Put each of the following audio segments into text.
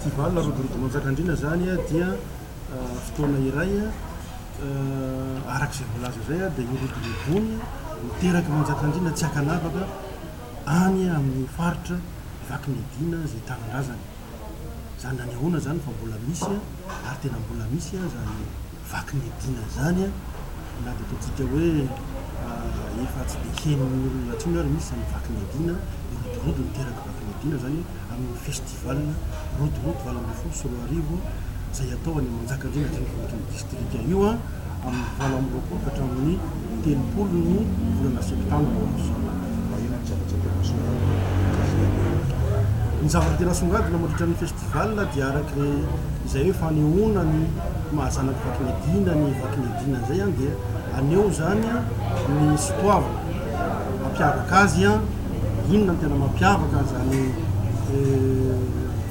Festival Rodorondonontsakandriana zany dia fotoana iray araka izay voalaza izay dia io rodorondony miteraky Manjakandriana tsy ankanavaka any amin'ny faritra vaky ny adiana izay tanindrazana. Izany nanehoana izany fa mbola misy ary tena mbola misy izany vaky ny adina izany an! na dia ataontsika hoe efa tsy dia henon'ny olona intsony ary misy izany vaky ny adina an! ny rodorodo niteraka vaky ny adina izany amin'ny festival rodorodo valo ambin'ny folo sy roa arivo izay atao any Manjakandriana an-drenivohitry ny distrika io an! amin'ny valo amby roapolo ka hatramin'ny telopolo ny volana septambra ho avy izao. Ny zavatra tena asongadina mandritra ny festival dia ny. Valina dia araka izay hoe fanehoana ny maha zanak'i Vakinedina an'i Vakinedina izay an dia aneho izany ny sotoavina mampiavaka azy an, inona no tena mampiavaka an'izany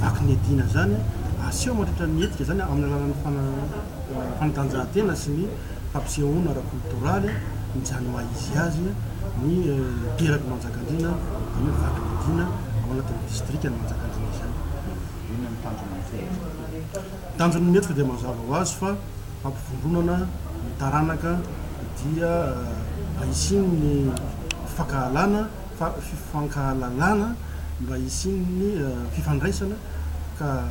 Vakinedina izany an, aseho mandritra ny hetsika izany an amin'ny alalan'ny fanatanjahantena sy ny. fampisehoana ara-kolotoraly mijanona maha izy azy ny Teraky Manjakandriana dia io vato midina ao anatin'ny distrikan'i Manjakandriana izany. Inona no tanjona ny fihetsika toy? Tanjona ny hetsika dia mazava ho azy fa hampivondronana ny taranaka dia mba hisian'ny fifankahalana, fifankahalalana, mba hisian'ny fifandraisana ka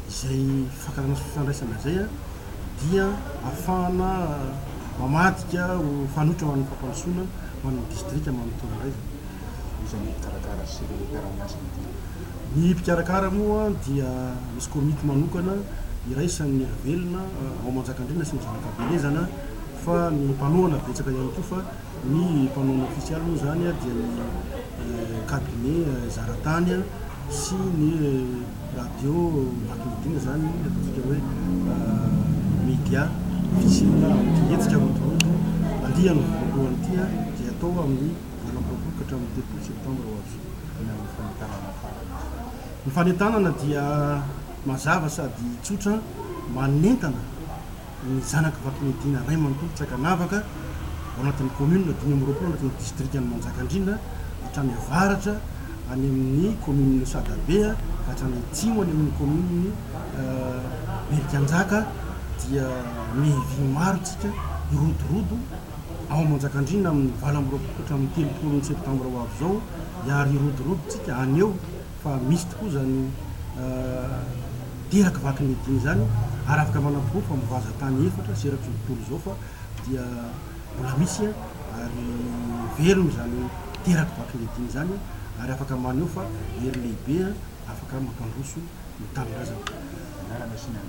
izay fifankahalana sy fifandraisana izay dia ahafahana mamadika ho fanoitra ho an'ny fampandrosoana ho an'ny distrika manontolo indray izany. Iza no mpikarakara sy ny mpiara-miasa amin'ity? Ny mpikarakara moa dia misy komity manokana iraisan'ny elo velona ao Manjakandriana sy ny Zanakabelezana fa ny mpanohana betsaka ihany koa fa ny mpanohana ofisialy moa izany dia ny cabinet Zaratany sy ny Radio vaky midina izany ataontsika hoe media ofisialy na anton-ketsika rondrondro andiany voalohany ity dia atao amin'ny valo amby roapolo ka hatramin'ny telopolo septambra ho avy any amin'ny fanentanana farany. Ny fanentanana dia mazava sady tsotra, manentana. ny zanaky Vakimedina ray manontolo Trakanavaka ao anatin'ny kaominina dimy amby roapolo ao anatin'ny distrikan'i Manjakandriana hatrany avaratra any amin'ny kaominina Sadabe ka hatrany atsimo any amin'ny kaominina Berikanjaka dia mihivy maro tsika hirodorodo ao Manjakandriana amin'ny valo amby roapolo ka hatramin'ny telopolo ny septambra ho avy izao hiary hirodorodo tsika haneho fa misy tokoa izany terak vaky ny dina izany ary afaka manamporofo fa mivaza tany efatra sy erak'izao tontolo izao fa dia mbola misy ary velona izany terak vaky ny dina izany ary afaka maneho fa hery lehibe afaka mampandroso ny tanindrazana.